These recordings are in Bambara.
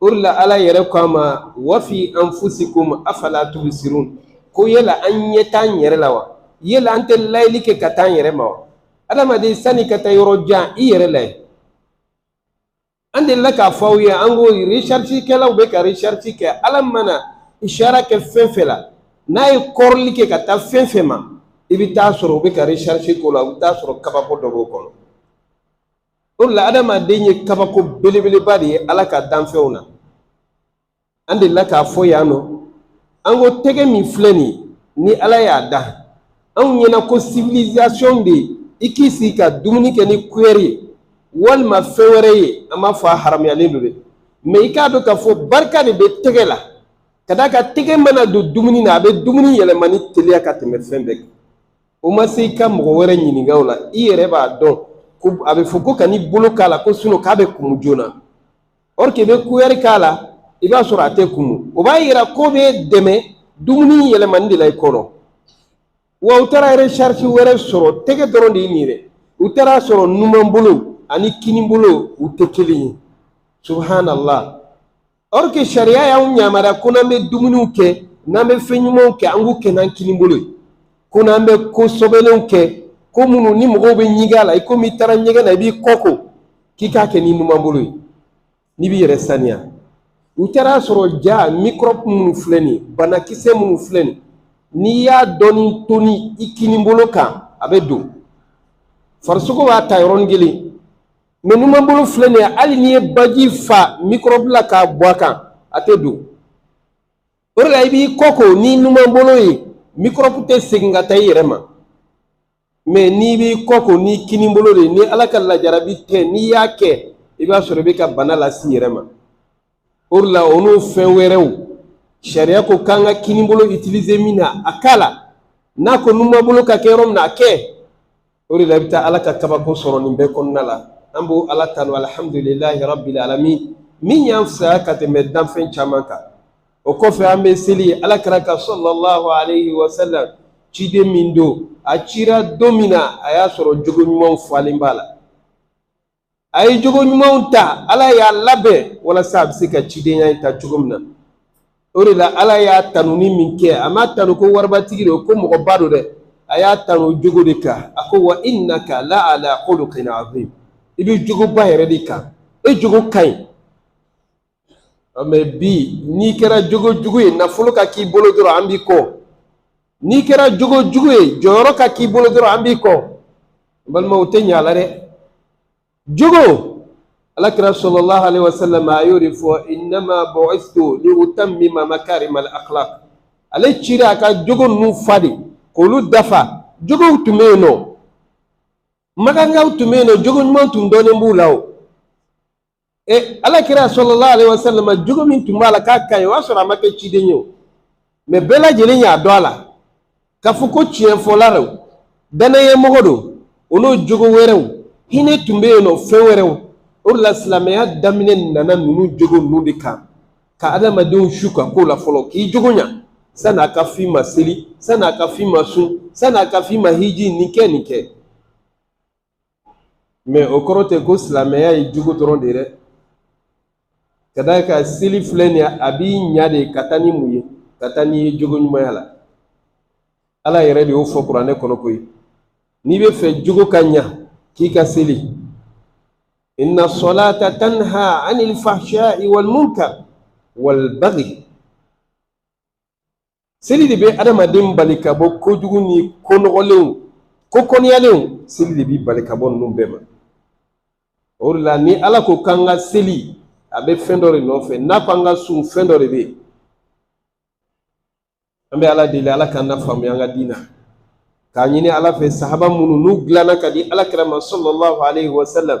O de la Ala yɛrɛ ko an ma wafi anfusikum afala tubsirun ko yala an ɲɛ t'an yɛrɛ la wa yala an tɛ layɛli kɛ ka taa an yɛrɛ ma wa adamaden sani ka taa yɔrɔ jan i yɛrɛ layɛ an delila k'a fɔ aw ye an ko recherche kɛlaw bɛ ka recherche kɛ ala mana isara kɛ fɛn fɛn la n'a ye kɔrɔli kɛ ka taa fɛn fɛn ma i bɛ t'a sɔrɔ u bɛ ka recherche k'o la u bɛ t'a sɔrɔ kabako dɔ b'o kɔnɔ o de la adamaden ye kabako belebeleba de ye ala ka danfɛnw na an delila k'a fɔ yan nɔ an ko tɛgɛ min filɛ nin ye ni ala y'a da anw ɲɛna ko civilisation de ye i k'i sigi ka dumuni kɛ ni kuyɛri ye walima fɛn wɛrɛ ye an m'a fɔ a haramuyalen don dɛ mais i k'a dɔn k'a fɔ barika de bɛ tɛgɛ la ka d'a kan tɛgɛ mana don dumuni na a bɛ dumuni yɛlɛmani teliya ka tɛmɛ fɛn bɛɛ kan o ma se i ka mɔgɔ wɛrɛ ɲininka o la i yɛrɛ b'a dɔn ko a bɛ fɔ ko kan'i bolo k'a la ko sinɔn k'a bɛ kumu joona or que i bɛ kuyɛri k'a la i b'a sɔrɔ a tɛ kumu o b'a yira k'o bɛ dɛmɛ dumuni yɛlɛmani de la i kɔnɔ wa u taara recherche wɛrɛ sɔrɔ tɛgɛ dɔrɔn de ye nin ye dɛ u taara a sɔrɔ numan bolo ani kini bolo u tɛ kelen ye subhanallah or que sariya y'anw yamaruya ko n'an bɛ dumuniw kɛ n'an bɛ fɛn ɲumanw kɛ an k'u kɛ n'an kini bolo ye ko n'an bɛ ko sɔbɛlenw kɛ ko minnu ni mɔgɔw bɛ ɲigin a la i komi i taara ɲɛgɛn na i b'i kɔ ko k'i k'a kɛ n'i numan bolo ye n'i b'i yɛrɛ saniya u taara a sɔrɔ ja mikɔrɔbu minnu filɛ nin ye banakisɛ minnu filɛ nin n'i y'a dɔɔni toni i kini bolo kan a bɛ don farisogo b'a ta yɔrɔnin kelen mais numanbolo filɛ nin ye hali n'i ye baji fa mikɔrɔbu la k'a bɔn a kan a tɛ don o de la i b'i kɔ ko ni numanbolo ye mikɔrɔbu tɛ segin ka taa i yɛrɛ ma mais n'i b'i kɔ ko ni kinibolo de ye ni ala ka lajarabi tɛ n'i y'a kɛ i b'a sɔrɔ i bɛ ka bana lase i yɛrɛ ma o de la o n'o fɛn wɛrɛw sariya ko k'an ka kinibolo utiliser min na a k'a la n'a ko numanbolo ka kɛ yɔrɔ min na a kɛ o de la i bɛ taa ala ka kabako sɔrɔ nin bɛɛ kɔnɔna la an b'o ala tanu alihamudulilayi rabbil alamin min y'an fisaya ka tɛmɛ danfɛn caman kan o kɔfɛ an bɛ seli ye ala kira kan sallallahu alayhi wa sallam ciden min don a cira don min na a y'a sɔrɔ jogo ɲumanw falen b'a la a ye jogo ɲumanw ta ala y'a labɛn walasa a bɛ se ka cidenya in ta cogo min na o de la ala y'a tanuni min kɛ a m'a tanu ko waribatigi don ko mɔgɔba don dɛ a y'a tanu jogo de kan a ko wa innaka la ala khuluqin azim i bɛ jogoba yɛrɛ de kan e jogo ka ɲi mɛ bi n'i kɛra jogo jugu ye nafolo ka k'i bolo dɔrɔn an b'i kɔ n'i kɛra jogo jugu ye jɔyɔrɔ ka k'i bolo dɔrɔn an b'i kɔ balimaw tɛ ɲa la dɛ jogo ala kira sallallahu alaihi wa sallam a y'o de fɔ innama bu'istu li utammima makarimal akhlaq ale cira a ka jogo ninnu fa de k'olu dafa jogow tun bɛ yen nɔ makankaw tun bɛ yen nɔ jogo ɲuman tun dɔnnen b'u la o e ala kira sallallahu alaihi wa sallam jogo min tun b'a la k'a ka ɲi o y'a sɔrɔ a ma kɛ ciden ye o mɛ bɛɛ lajɛlen y'a dɔn a la k'a fɔ ko tiɲɛfɔla don dannayamɔgɔ don o n'o jogo wɛrɛw hinɛ tun bɛ yen nɔ fɛn wɛrɛw o de la silamɛya daminɛ nana ninnu jogo ninnu de kan ka adamadenw su ka ko la fɔlɔ k'i jogo ɲa sanni a ka f'i ma seli sanni a ka f'i ma sun sanni a ka f'i ma hiji nin kɛ nin kɛ mɛ o kɔrɔ tɛ ko silamɛya ye jogo dɔrɔn de ye dɛ ka d'a kan seli filɛ nin ye a b'i ɲa de ka taa ni mun ye ka taa n'i ye jogo ɲumanya la ala yɛrɛ de y'o fɔ kuranɛ kɔnɔ koyi n'i b'a fɛ jogo ka ɲa k'i ka seli inna salata tanha anil fahsha'i wal munkar wal baghi seli de bɛ adamaden bali ka bɔ kojugu ni ko nɔgɔlenw ko kɔniyalenw seli de b'i bali ka bɔ ninnu bɛɛ ma o de la ni ala ko k'an ka seli a bɛ fɛn dɔ de nɔfɛ n'a ko an ka sun fɛn dɔ de bɛ yen an bɛ ala deli ala k'an nafaamuya an ka diin na k'a ɲini ala fɛ sahaba minnu n'u dilanna ka di ala kira ma sallallahu alaihi wa sallam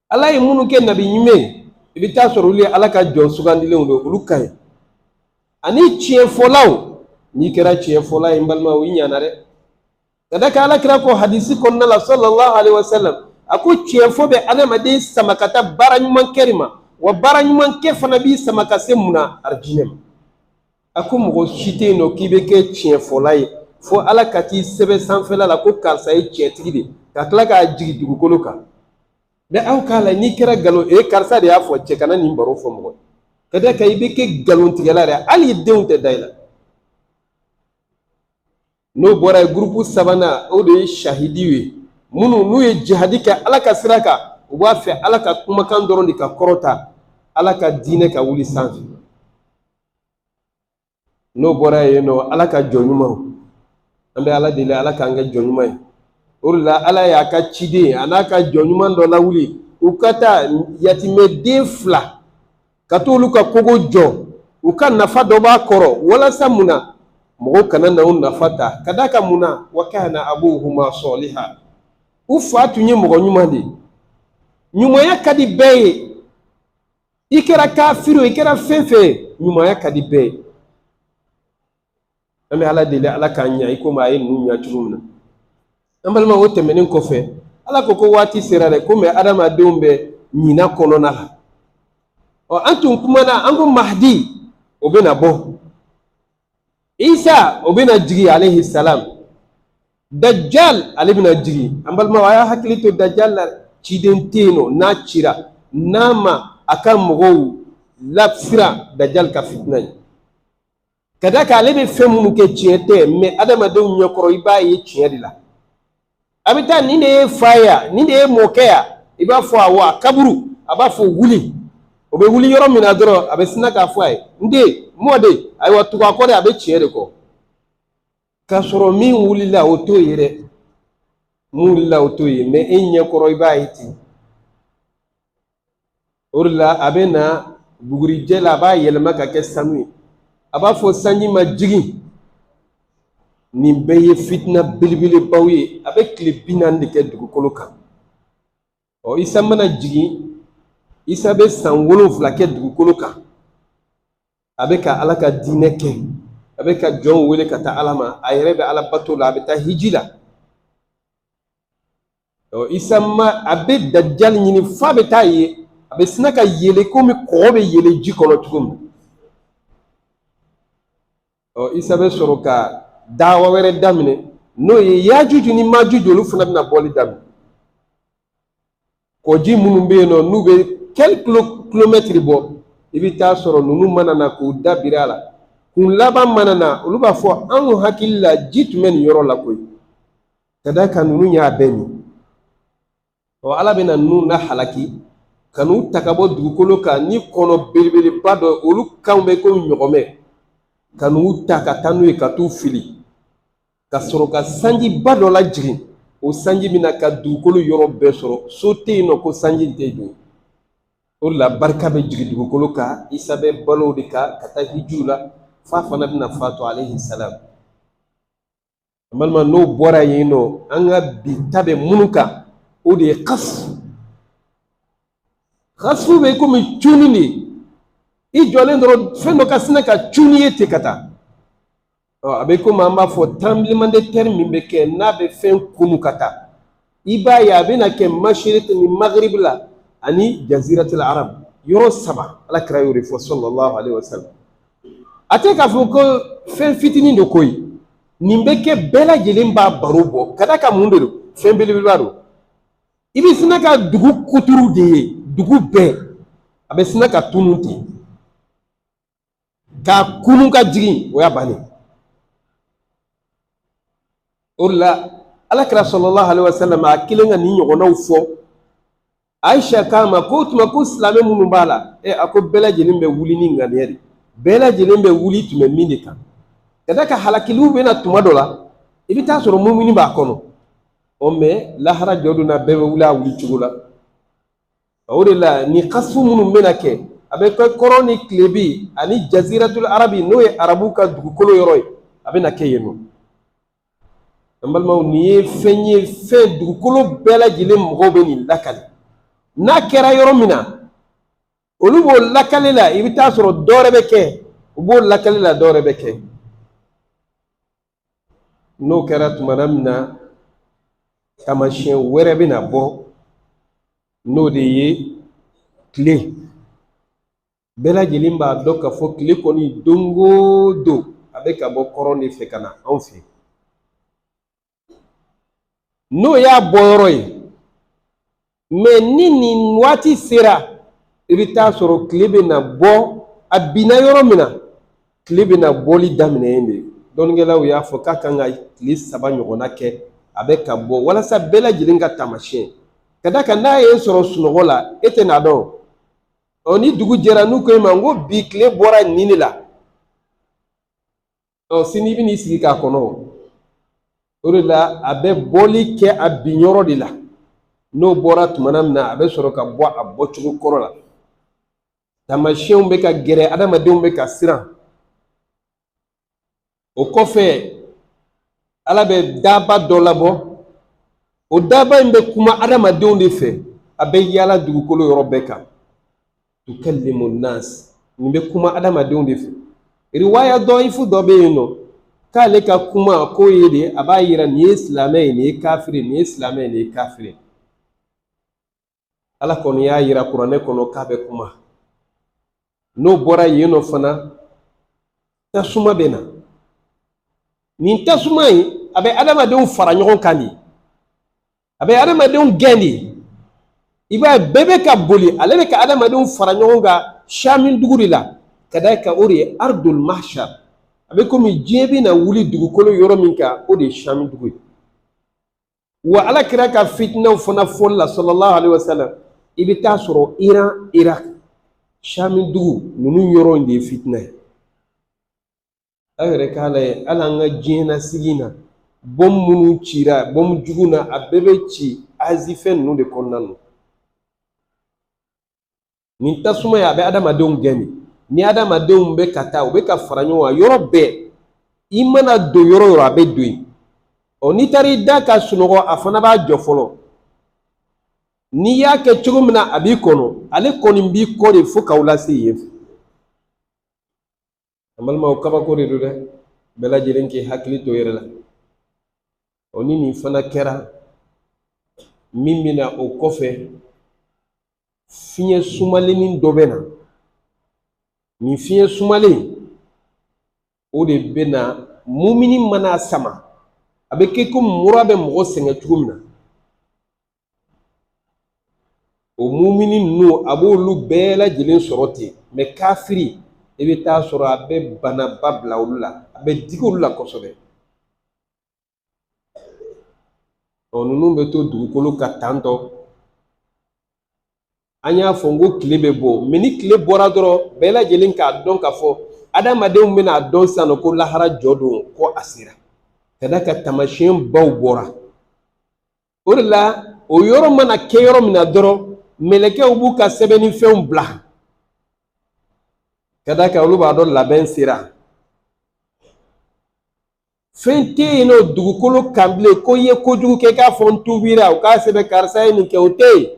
ala ye minnu kɛ nabiɲuman ye i bɛ t'a sɔrɔ olu ye ala ka jɔn sugandilenw don olu ka ɲi ani tiɲɛfɔlaw n'i kɛra tiɲɛfɔla ye n balima o i ɲana dɛ ka d'a kan ala kira ko hadisi kɔnɔna la sallallahu alaihi wa sallam a ko tiɲɛfɔ bɛ adamaden sama ka taa baara ɲuman kɛ de ma wa baara ɲuman kɛ fana b'i sama ka se mun na arijinɛ ma a ko mɔgɔ si tɛ yen nɔ k'i bɛ kɛ tiɲɛfɔla ye fo ala ka t'i sɛbɛn sanfɛla la ko karisa ye tiɲɛtigi de ye ka tila k'a jigin dugukolo kan mɛ aw k'a la n'i kɛra nkalon e karisa de y'a fɔ cɛ kana nin baro fɔ mɔgɔ ka d'a kan i bɛ kɛ nkalontigɛla de hali denw tɛ da i la n'o bɔra ye gurupu sabanan o de ye sahidiw ye minnu n'u ye jihadi kɛ ala ka sira kan u b'a fɛ ala ka kumakan dɔrɔn de ka kɔrɔta ala ka diinɛ ka wuli sanfɛ n'o bɔra yen nɔ ala ka jɔn ɲumanw an bɛ ala deli ala k'an kɛ jɔn ɲuman ye o de la ala y'a ka ciden an'a ka jɔn ɲuman dɔ lawuli u ka taa yatimɛden fila ka t'olu ka kogo jɔ u ka nafa dɔ b'a kɔrɔ walasa mun na mɔgɔw kana na u nafa ta ka d'a kan mun na wa kana abuhuma saliha u fa tun ye mɔgɔ ɲuman de ye ɲumanya ka di bɛɛ ye i kɛra kafiri o i kɛra fɛn fɛn ye ɲumanya ka di bɛɛ ye an bɛ ala deli ala k'an ɲa i komi a ye ninnu ɲa cogo min na an balima o tɛmɛnen kɔfɛ ala ka ko waati sera dɛ komi adamadenw bɛ ɲina kɔnɔna la ɔ an tun kumana an ko mahadi o bɛna bɔ isa o bɛna jigin alehi salam dajjal ale bɛna jigin an balima a y'a hakili to dajjal la ciden tɛ yen nɔ n'a cira n'a ma a ka mɔgɔw lasiran dajjal ka fitina ye ka d'a kan ale bɛ fɛn minnu kɛ tiɲɛ tɛ mɛ adamadenw ɲɛkɔrɔ i b'a ye tiɲɛ de la a bɛ taa nin de y'i fa ye yan nin de y'i mɔkɛ yan i b'a fɔ awɔ a kaburu a b'a fɔ wuli o bɛ wuli yɔrɔ min na dɔrɔn a bɛ sina k'a fɔ a ye n den mɔden ayiwa tugu a kɔ dɛ a bɛ tiɲɛ de kɔ k'a sɔrɔ min wulila o t'o ye dɛ min wulila o t'o ye mɛ e ɲɛ kɔrɔ i b'a ye ten o de la a bɛ na bugurijɛ la a b'a yɛlɛma ka kɛ sanu ye a b'a fɔ sanji ma jigin nin bɛɛ ye fitina belebelebaw ye a bɛ tile bi naani de kɛ dugukolo kan ɔ isa mana jigin isa bɛ san wolonfila kɛ dugukolo kan a bɛ ka ala ka diinɛ kɛ a bɛ ka jɔnw wele ka taa ala ma a yɛrɛ bɛ ala bato la a bɛ taa hiji la ɔ isa a bɛ dajjal ɲini f'a bɛ t'a ye a bɛ sina ka yeele komi kɔgɔ bɛ yeele ji kɔnɔ cogo min ɔ isa bɛ sɔrɔ ka dawa wɛrɛ daminɛ n'o ye yajuju ni majuju olu fana bɛna bɔli daminɛ kɔji minnu bɛ yen nɔ n'u bɛ kɛli kilo kilomɛtiri bɔ i bɛ t'a sɔrɔ ninnu mana na k'u da biri a la kun laban mana na olu b'a fɔ anw hakili la ji tun bɛ nin yɔrɔ la koyi ka d'a kan ninnu y'a bɛɛ min ɔ ala bɛna ninnu na halaki ka n'u ta ka bɔ dugukolo kan ni kɔnɔ belebeleba dɔ ye olu kanw bɛ komi ɲɔgɔmɛ ka n'u ta ka taa n'u ye ka t'u fili ka sɔrɔ ka sanjiba dɔ lajigin o sanji bɛna ka dugukolo yɔrɔ bɛɛ sɔrɔ so tɛ yen nɔ ko sanji tɛ don o de la barika bɛ jigin dugukolo kan isa bɛ balo de kan ka taa hijiw la f'a fana bɛna fatu alehi salam balima n'o bɔra yen nɔ an ka bi ta bɛ minnu kan o de ye kasfu kasfu bɛ komi cunni de i jɔlen dɔrɔn fɛn dɔ ka sina ka cun n'i ye ten ka taa a bɛ komi an b'a fɔ tremblement de terre min bɛ kɛ n'a bɛ fɛn kunu ka taa i b'a ye a bɛna kɛ masiriki ni magribi la ani jaziratil arab yɔrɔ saba ala kira y'o de fɔ sallallahu alaihi wasallam a tɛ k'a fɔ ko fɛn fitinin don ko ye nin bɛ kɛ bɛɛ lajɛlen b'a baro bɔ ka d'a kan mun de don fɛn belebeleba don i bɛ sina ka dugu kuturu de ye dugu bɛɛ a bɛ sina ka tunun ten Ka kunun ka jigin o y'a bannen o de la ala kira sallallahu alaihi wasallam a kelen ka nin ɲɔgɔnnaw fɔ ayisa k'a ma ko o tuma ko silamɛ minnu b'a la ɛ a ko bɛɛ lajɛlen bɛ wuli ni ŋaniya de bɛɛ lajɛlen bɛ wuli tun bɛ min de kan ka d'a kan halakiliw bɛna tuma dɔ la i bɛ t'a sɔrɔ mumini b'a kɔnɔ ɔ mɛ lahara jɔ don na bɛɛ bɛ wuli a wuli cogo la o de la nin kasu minnu bɛna kɛ a bɛ kɛ kɔrɔn ni tilebin ani jaziratul arabi n'o ye arabu ka dugukolo yɔrɔ ye a bɛna kɛ yen nɔ an balimaw nin ye fɛn ye fɛn dugukolo bɛɛ lajɛlen mɔgɔw bɛ nin lakali n'a kɛra yɔrɔ min na olu b'o lakali la i bɛ t'a sɔrɔ dɔwɛrɛ bɛ kɛ u b'o lakali la dɔwɛrɛ bɛ kɛ n'o kɛra tumana min na taamasiyɛn wɛrɛ bɛna bɔ n'o de ye tile bɛɛ lajɛlen b'a dɔn k'a fɔ tile kɔni don o don a bɛ ka bɔ kɔrɔn de fɛ ka na anw fɛ n'o y'a bɔyɔrɔ ye mɛ ni nin waati sera i bɛ t'a sɔrɔ tile bɛna bɔ a binna yɔrɔ min na tile bɛna bɔli daminɛ yen de dɔnnikɛlaw y'a fɔ k'a kan ka tile saba ɲɔgɔnna kɛ a bɛ ka bɔ walasa bɛɛ lajɛlen k'a taamasiyɛn ka d'a kan n'a y'i sɔrɔ sunɔgɔ la e tɛn'a dɔn ɔ ni dugu jɛra n'u ko e ma ko bi tile bɔra nin de la ɔ sini i bɛn'i sigi k'a kɔnɔ o o de la a bɛ bɔli kɛ a binyɔrɔ de la n'o bɔra tuma min na a bɛ sɔrɔ ka bɔ a bɔcogo kɔrɔ la taamasiyɛnw bɛ ka gɛrɛ adamadenw bɛ ka siran o kɔfɛ ala bɛ daaba dɔ labɔ o daaba in bɛ kuma adamadenw de fɛ a bɛ yaala dugukolo yɔrɔ bɛɛ kan tukallimu nas nin bɛ kuma adamadenw de fɛ riwaya dɔyifu dɔ bɛ yen nɔ k'ale ka kuma k'o ye de a b'a yira nin ye silamɛ ye nin ye kafiri nin ye silamɛ ye nin ye kafiri ala kɔni y'a yira kuranɛ kɔnɔ k'a bɛ kuma n'o bɔra yen nɔ fana tasuma bɛ na nin tasuma in a bɛ adamadenw fara ɲɔgɔn kan de a bɛ adamadenw gɛn de i b'a ye bɛɛ bɛ ka boli ale bɛ ka adamadenw fara ɲɔgɔn kan sami dugu de la ka d'a kan o de ye ardul mahsar a bɛ komi diɲɛ bɛ na wuli dugukolo yɔrɔ min kan o de ye sami dugu ye wa ala kira ka fitinaw fana fɔli la sallallahu alaihi wasallam i bɛ t'a sɔrɔ iran irak sami dugu ninnu yɔrɔ in de ye fitina ye an yɛrɛ k'a lajɛ hali an ka diɲɛlasigi na bɔmu minnu cira bɔmu jugu na a bɛɛ bɛ ci azi fɛn ninnu de kɔnɔna na nin tasuma ye a bɛ adamadenw gɛn de ni adamadenw bɛ ka taa u bɛ ka fara ɲɔgɔn kan yɔrɔ bɛɛ i mana don yɔrɔ o yɔrɔ a bɛ don yen ɔ n'i taara i da ka sunɔgɔ a fana b'a jɔ fɔlɔ n'i y'a kɛ cogo min na a b'i kɔnɔ ale kɔni b'i kɔ de fo k'aw lase yen fɛ an balimaw kabako de don dɛ bɛɛ lajɛlen k'i hakili to i yɛrɛ la o ni nin fana kɛra min bɛ na o kɔfɛ fiɲɛ sumalenni dɔ bɛ na nin fiɲɛ sumalen o de bɛ na mumini man'a sama a bɛ kɛ komi mura bɛ mɔgɔ sɛgɛn cogo min na o mumini ninnu a b'olu bɛɛ lajɛlen sɔrɔ ten mɛ kafiri i bɛ t'a sɔrɔ a bɛ banaba bila olu la a bɛ digi olu la kosɛbɛ ɔ ninnu bɛ to dugukolo kan tantɔ an y'a fɔ n ko tile bɛ bɔ mɛ ni tile bɔra dɔrɔn bɛɛ lajɛlen k'a dɔn k'a fɔ adamadenw bɛn'a dɔn sisan nɔ ko lahara jɔ don ko a sera ka d'a kan taamasiyɛnbaw bɔra o de la o yɔrɔ mana kɛ yɔrɔ min na dɔrɔn mɛlɛkɛw b'u ka sɛbɛnni fɛnw bila ka d'a kan olu b'a dɔn labɛn sera fɛn tɛ yen nɔ dugukolo kan bilen ko i ye kojugu kɛ k'a fɔ n tubira u k'a sɛbɛn karisa ye nin kɛ o tɛ yen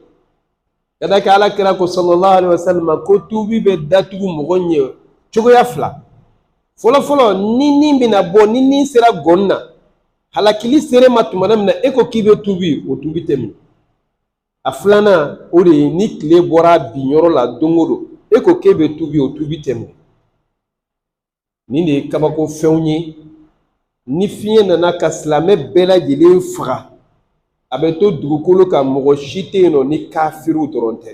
ka d'a kan ala kira ko sallallahu alaihi wasallam ko tubi bɛ datugu mɔgɔ ɲɛ cogoya fila fɔlɔfɔlɔ ni ni bɛna bɔ ni ni sera ngɔnɔ na halakili sere ma tuma min na e ko k'i bɛ tubi o tubi tɛ minɛ a filanan o de ye ni tile bɔra binyɔrɔ la don o don e ko k'e bɛ tubi o tubi tɛ min nin de ye kabako fɛnw ye ni fiɲɛ nana ka silamɛ bɛɛ lajɛlen faga a bɛ to dugukolo kan mɔgɔ si tɛ yen nɔ ni kafiriw dɔrɔn tɛ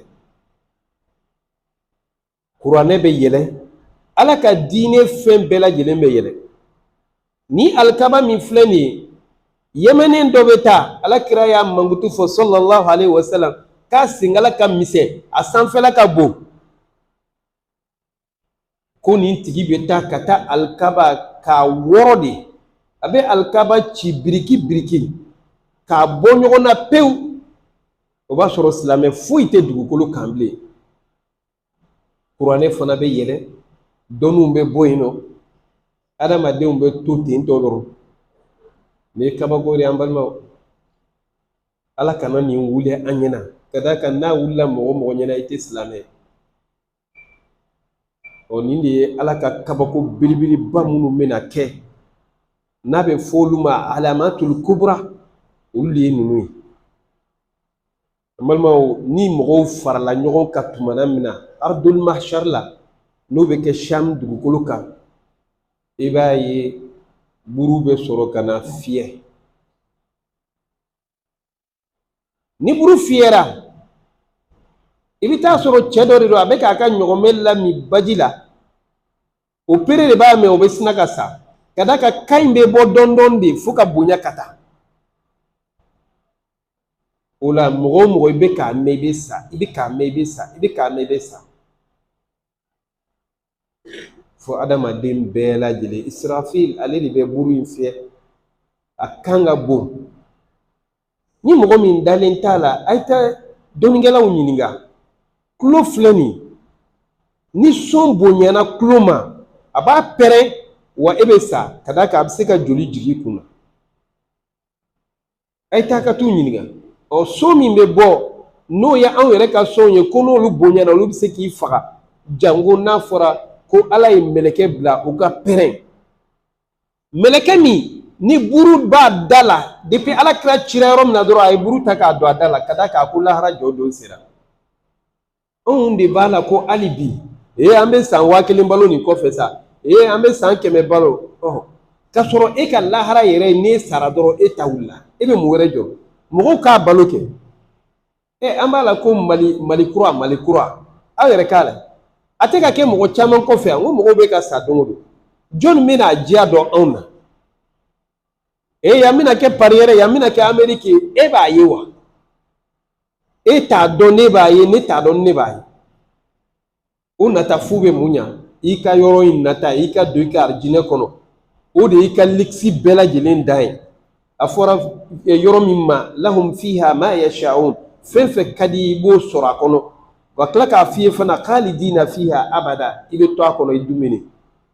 kuranɛ bɛ yɛlɛ ala ka diinɛ fɛn bɛɛ lajɛlen bɛ yɛlɛ ni alikaba min filɛ nin ye yɛmɛnen dɔ bɛ taa ala kira y'a mankutu fɔ sallallahu alaihi wasallam k'a senkala ka misɛn a sanfɛla ka bon ko nin tigi bɛ taa ka taa alikaba k'a wɔrɔ de a bɛ alikaba ci biriki biriki k'a bɔ ɲɔgɔn na pewu o b'a sɔrɔ silamɛ foyi tɛ dugukolo kan bilen kuranɛ fana bɛ yɛlɛ dɔnniw bɛ bɔ yen nɔ adamadenw bɛ to ten tɔ dɔrɔn nin ye kabako de ye an balimaw ala kana nin wuli an ɲɛna ka d'a kan n'a wulila mɔgɔ mɔgɔ ɲɛna i tɛ silamɛ ye ɔ nin de ye ala ka kabako belebeleba minnu bɛna kɛ n'a bɛ fɔ olu ma alamatul kubra olu de ye ninnu ye an balimaw ni mɔgɔw farala ɲɔgɔn kan tumana min na ardul mahshar la n'o bɛ kɛ sham dugukolo kan i b'a ye buru bɛ sɔrɔ ka na fiyɛ ni buru fiyɛra i bɛ t'a sɔrɔ cɛ dɔ de don a bɛ k'a ka ɲɔgɔmɛ lamin baji la o pere de b'a mɛn o bɛ sina ka sa ka d'a kan kan in bɛ bɔ dɔɔnin dɔɔnin de fo ka bonya ka taa o la mɔgɔ o mɔgɔ i bɛ k'a mɛn i bɛ sa i bɛ k'a mɛn i bɛ sa i bɛ k'a mɛn i bɛ sa fo adamaden bɛɛ lajɛlen israfil ale de bɛ buru in fiyɛ a kan ka bon ni mɔgɔ min dalen t'a la a ye taa dɔnnikɛlaw ɲininka tulo filɛ nin ni son bonyana tulo ma a b'a pɛrɛn wa e bɛ sa ka d'a kan a bɛ se ka joli jigin i kun na a ye taa ka t'u ɲininka ɔ son min bɛ bɔ n'o ye anw yɛrɛ ka sonw ye ko n'olu bonyana olu bɛ se k'i faga janko n'a fɔra ko ala ye mɛlɛkɛ bila u ka pɛrɛn mɛlɛkɛ min ni buru b'a da la depi ala kira cira yɔrɔ min na dɔrɔn a ye buru ta k'a don a da la ka d'a kan ko lahara jɔ don sera anw de b'a la ko hali bi ee an bɛ san waa kelen balo nin kɔfɛ sa ee an bɛ san kɛmɛ balo ɔhɔ k'a sɔrɔ e ka lahara yɛrɛ ye n'e sara dɔrɔn e ta wulila e bɛ mun wɛrɛ jɔ mɔgɔw k'a balo kɛ ɛ an b'a la ko mali mali kura mali kura aw yɛrɛ k'a la a tɛ ka kɛ mɔgɔ caman kɔfɛ yan ko mɔgɔw bɛ ka sa don o don jɔnni bɛn'a diya dɔn anw na ee yan bɛna kɛ pari yɛrɛ yan bɛna kɛ ameriki ye e b'a ye wa e t'a dɔn ne b'a ye ne t'a dɔn ne b'a ye o nata fu bɛ mun ɲa i ka yɔrɔ in nata i ka don i ka arijinɛ kɔnɔ o de y'i ka likisi bɛɛ lajɛlen dan ye a fɔra eh, yɔrɔ min ma lahum fiha ma yashaun fɛn fɛn ka di i b'o sɔrɔ a kɔnɔ ka tila k'a f'i ye fana khalidina fiha abada i bɛ to a kɔnɔ i dumuni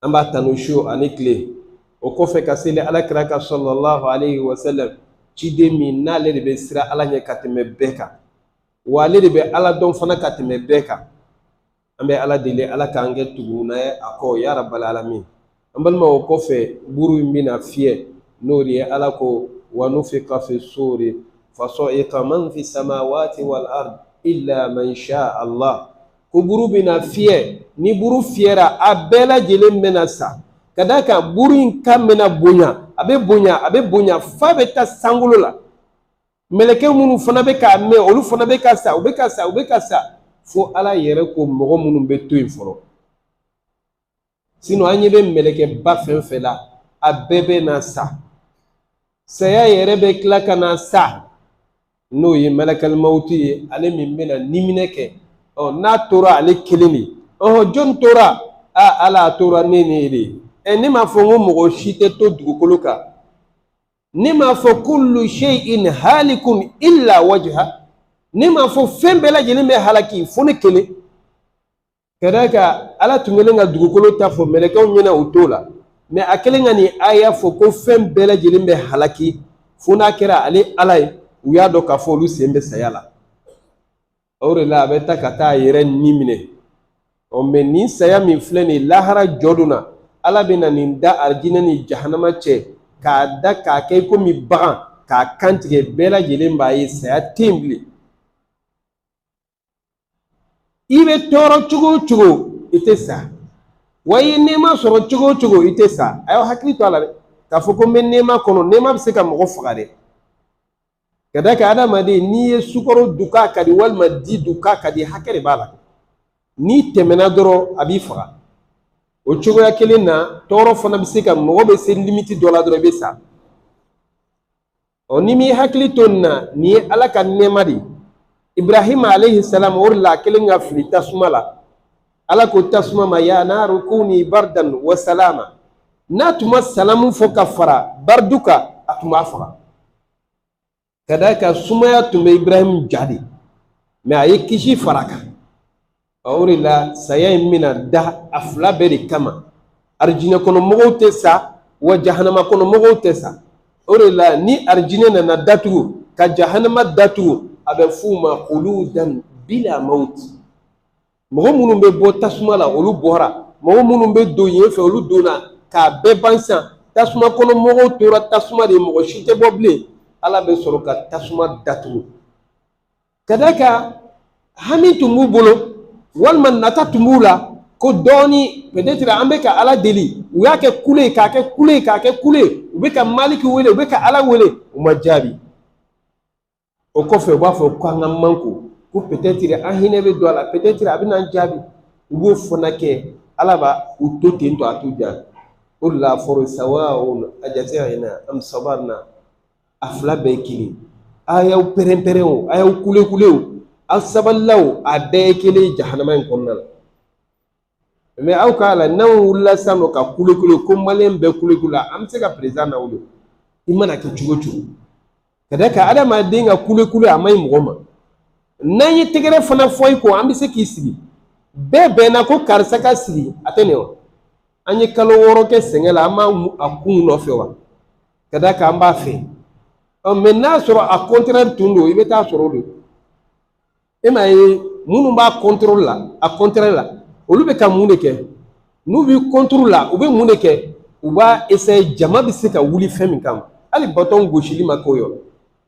an b'a tanu su ani tile o kɔfɛ ka seli ala kira kan salalahu alayhi wa sallam ciden min n'ale de bɛ siran ala ɲɛ ka tɛmɛ bɛɛ kan wa ale de bɛ ala dɔn fana ka tɛmɛ bɛɛ kan an bɛ ala deli ala k'an kɛ tuguna ye a kɔ ya rabbal alamin an balima o kɔfɛ buru in bɛna fiyɛ n'o de ye ala ko wa nufika fi suri fasa'iqa man fi samawati wal ard illa man sha allah ko buru bɛna fiyɛ ni buru fiyɛra a bɛɛ lajɛlen bɛna sa ka d'a kan buru in kan bɛna bonya a bɛ bonya a bɛ bonya f'a bɛ taa sankolo la mɛlɛkɛ minnu fana bɛ k'a mɛn olu fana bɛ ka sa u bɛ ka sa u bɛ ka sa fo ala yɛrɛ ko mɔgɔ minnu bɛ to yen fɔlɔ an ɲɛ bɛ mɛlɛkɛba fɛn o fɛn la a bɛɛ bɛ na sa saya yɛrɛ bɛ tila ka na sa n'o ye malakal mawuti ye ale min bɛ na niminɛ kɛ ɔ n'a tora ale kelen de ɔhɔ jɔni tora a ala a tora ne ne de ye ɛ ne m'a fɔ n ko mɔgɔ si tɛ to dugukolo kan ne m'a fɔ kullu shay'in halikun illa wajha ne m'a fɔ fɛn bɛɛ lajɛlen bɛ halaki fo ne kelen ka d'a kan ala tun kɛlen ka dugukolo ta fɔ mɛlɛkɛw ɲɛna u t'o la mɛ a kɛlen ka nin aya fɔ ko fɛn bɛɛ lajɛlen bɛ halaki fo n'a kɛra ale ala ye u y'a dɔn k'a fɔ olu sen bɛ saya la o de la a bɛ ta ka taa a yɛrɛ ni minɛ ɔ mɛ nin saya min filɛ nin ye lahara jɔ don na ala bɛ na nin da arijinɛ ni jahanama cɛ k'a da k'a kɛ i komi bagan k'a kantigɛ bɛɛ lajɛlen b'a ye saya tɛ yen bilen i bɛ tɔɔrɔ cogo o cogo i tɛ sa wa i ye nɛɛma sɔrɔ cogo o cogo i tɛ sa a y'aw hakili to a la dɛ k'a fɔ ko n bɛ nɛɛma kɔnɔ nɛɛma bɛ se ka mɔgɔ faga dɛ ka d'a kan adamaden n'i ye sukaro dun k'a ka di walima di dun k'a ka di hakɛ de b'a la n'i tɛmɛna dɔrɔn a b'i faga o cogoya kelen na tɔɔrɔ fana bɛ se ka mɔgɔ bɛ se limiti dɔ la dɔrɔn i bɛ sa ɔ n'i m'i hakili to nin na nin ye ala ka nɛɛma de ye ibrahima alayhi salam o de la a kɛlen ka fili tasuma la ala ko tasuma ma ya naaru kuni bardan wa salama n'a tun ma salamu fɔ ka fara bardu kan a tun b'a faga ka d'a kan sumaya tun bɛ ibrahim ja de mɛ a ye kisi fara a kan o de la saya in bɛna da a fila bɛɛ de kama arijinɛ kɔnɔ mɔgɔw tɛ sa wa jahanama kɔnɔ mɔgɔw tɛ sa o de la ni arijinɛ nana datugu ka jahanama datugu a bɛ f'u ma khuludan bila mawuti mɔgɔ minnu bɛ bɔ tasuma la olu bɔra mɔgɔ minnu bɛ don yen fɛ olu donna k'a bɛɛ ban san tasuma kɔnɔ mɔgɔw tora tasuma de mɔgɔ si tɛ bɔ bilen ala bɛ sɔrɔ ka tasuma datugu Ka d'a kan hami tun b'u bolo walima nata tun b'u la ko dɔɔni peut-être an bɛ ka Ala deli u y'a kɛ kule ye k'a kɛ kule ye k'a kɛ kule ye u bɛ ka Maliki wele u bɛ ka Ala wele u ma jaabi o kɔfɛ u b'a fɔ k'an ka mankun ko peut-être an hinɛ bɛ don a la peut-être a bɛna an jaabi u b'o fana kɛ Ala bɛ u to ten tɔ a t'u jaabi o de la a fɔra sawaun ajazina am sabarna a fila bɛɛ ye kelen a y'aw pɛrɛn-pɛrɛn o a y'aw kule-kule o aw sabalila o a bɛɛ ye kelen ye jahanama in kɔnɔna la mɛ aw k'a la n'anw wulila sisan nɔ ka kule-kule ko maliyɛn bɛɛ kule-kule la an bɛ se ka perezidan lawuli i mana kɛ cogo o cogo ka d'a kan adamaden ka kule-kule a man ɲi mɔgɔ ma n'an ye tɛgɛrɛ fana fɔ i ko an bɛ se k'i sigi bɛɛ bɛnna ko karisa ka sigi a tɛ nin wa an ye kalo wɔɔrɔ kɛ sɛgɛn la an b'a a kun nɔfɛ wa ka d'a kan an b'a fɛ ɔ mɛ n'a sɔrɔ a kɔntɛrɛ tun don i bɛ t'a sɔrɔ o don e m'a ye minnu b'a kɔntɛrɛ la a kɔntɛrɛ la olu bɛ ka mun de kɛ n'u bɛ kɔntɛrɛ la u bɛ mun de kɛ u b'a eseye jama bɛ se ka wuli fɛn min kama hali batɔn gosili ma k'o yɔrɔ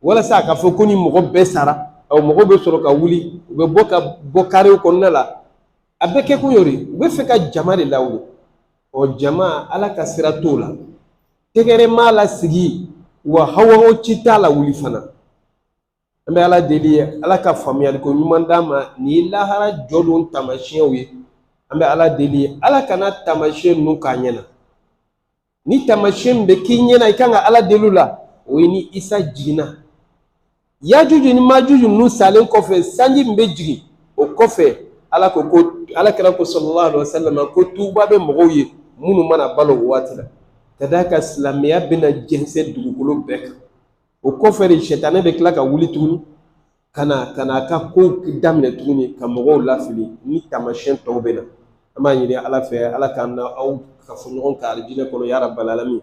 walasa a ka fɔ ko ni mɔgɔ bɛɛ sara ɔ mɔgɔ bɛ sɔrɔ ka wuli u bɛ bɔ ka bɔ karew kɔnɔna la a bɛɛ kɛkun y'o de ye u bɛ fɛ ka jama de lawuli ɔ jama ala ka sira t'o la tɛgɛrɛ m'a lasigi wa hawa si t'a lawuli fana an bɛ ala deli ye ala ka faamuyali ko ɲuman d'an ma nin ye lahara jɔdon taamasiyɛnw ye an bɛ ala deli ye ala kana taamasiyɛn ninnu k'an ɲɛna ni taamasiyɛn min bɛ k'i ɲɛna i kan ka ala deli la o ye ni isa jiginna yajuju ni majuju ninnu salen kɔfɛ sanji min bɛ jigin o kɔfɛ ala ko ko ala kira ko sallallahu alaihi wasallam ko tuuba bɛ mɔgɔw ye minnu mana balo o waati la ka d'a kan silamɛya bɛna jɛnsɛn dugukolo bɛɛ kan o kɔfɛ de sitanɛ bɛ tila ka wuli tuguni ka na ka na a ka kow daminɛ tuguni ka mɔgɔw lafili ni taamasiyɛn tɔw bɛ na an b'a ɲini ala fɛ ala k'an n'aw kafo ɲɔgɔn kan alijinɛ kɔnɔ ya rabbal alamin